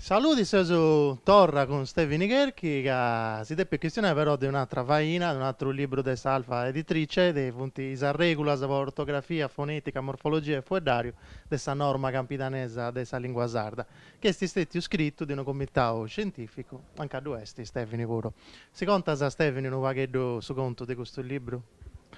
Saludi seus torra cun Stevini Cherchi chi si depit chistionai però de un'atra faina, de un'atru libru de s'Alfa Editrice, chi funt is arregulas po ortografia, fonetica, morfologia e fueddariu de sa norma campidanesa de sa lingua sarda. Ch'est stètiu scritu de unu comitau scientìficu, anca ddu est Stèvini puru. Si contas, Stèvini, unu pagheddu su contu de custu libru?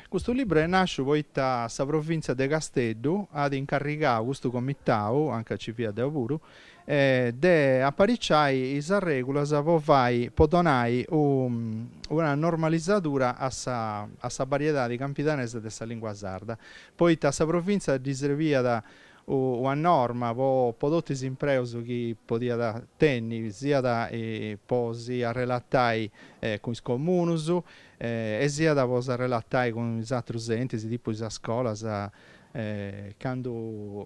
Custu libru est nàsciu poita sa provìntzia de Casteddu at incarrigau custu comitau, anca nci fia deu puru, de apariciai is arrègulas po fai, po donai una normalizadura a sa a sa bariedadi campidanesa de sa lìngua sarda, poita a sa provìntzia ddi srebiat una norma po po totu is impreus chi podiat tenni, siat po si arrelatai cun is comunus e siat po s'arrelatai cun is atrus entis, tipu is scolas, candu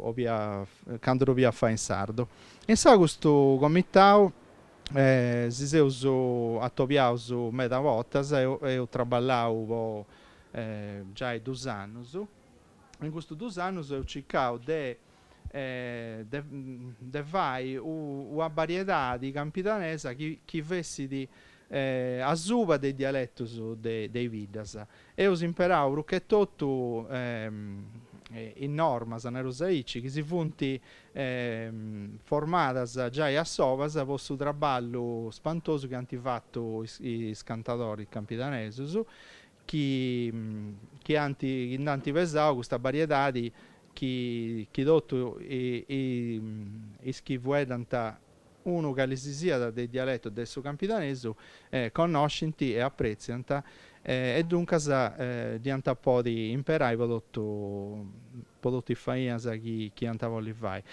'oliat, candu dd'oliat fai in sardu. Insaras custu comitau si seus atobiaus meda bortas, eus traballau po giai dus annus, In custus dus annus eus circau de de fai una bariedadi campidanesa chi fessit asuba de is dialetus de is biddas. Eus imperau prus che totu is normas, nareus aici, chi si funt formadas giai a sovas po su traballu spantosu chi ant fatu is cantadoris campidanesus, chi chi ant chi nd'ant pesau custa bariedadi chi chi totu is chi fueddant unu cali si siat de is dialetus de su campidanesu connoscint e apretziant e duncas dd'iant a podi imperai po totu po totu is fainas chi chi iant a bolli fai.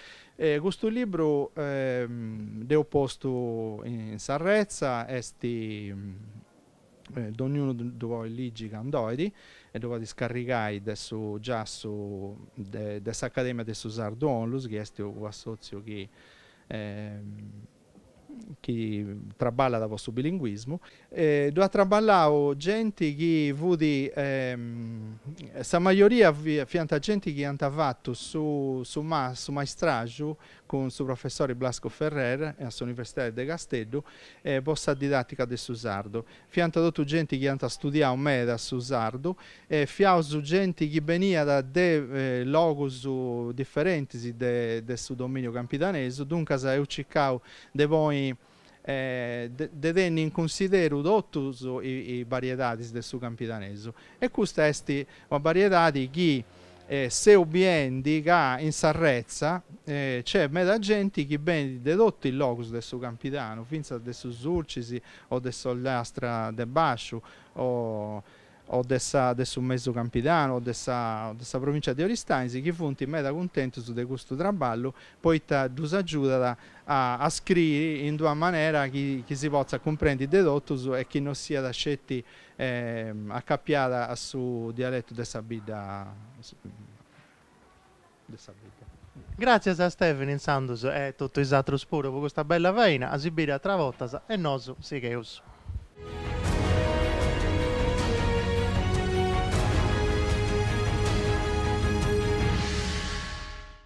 Custu libru dd'eus postu in s'arretza est dogniunu ddu podit ligi candu 'olit e ddu podit scarrigai de su giassu de s'Academia de su Sardu Onlus chi est unu assòtziu chi chi traballat po su bilinguismu. Ddu at traballau genti chi fut sa majoria fiant genti chi iant fatu su su maistraju cun su professori Blasco Ferrer a s'Universidadi de Casteddu e po sa didàtica de su sardu. Fiant totu genti chi iant studiau meda su sardu e fiaus genti chi beniat de logus diferentis de su dominiu campidanesu, duncas eus circau de ponni e de tenni in cunsideru totus is bariedadis de su campidanesu, e custa est una bariedadi chi seu biendi ca in s'arretza nc'est meda genti chi benit de totu is logus de su campidanu, fintzas de su Sulcis o de s'Ollastra de Basciu o o de sa de su Mesu Campidanu o de sa o de sa Provìncia de Oristanis chi funt meda cuntentus de custu traballu poita ddus agiudat a a scriri in d'una manera chi chi si potzat cumprendi de totus e chi no siat sceti acapiada a su dialetu de sa bidda de sa bidda. Gràtzias a Stèvini insandus e totu is atrus puru po custa bella faina, a si biri atras bortas e nosu sigheus.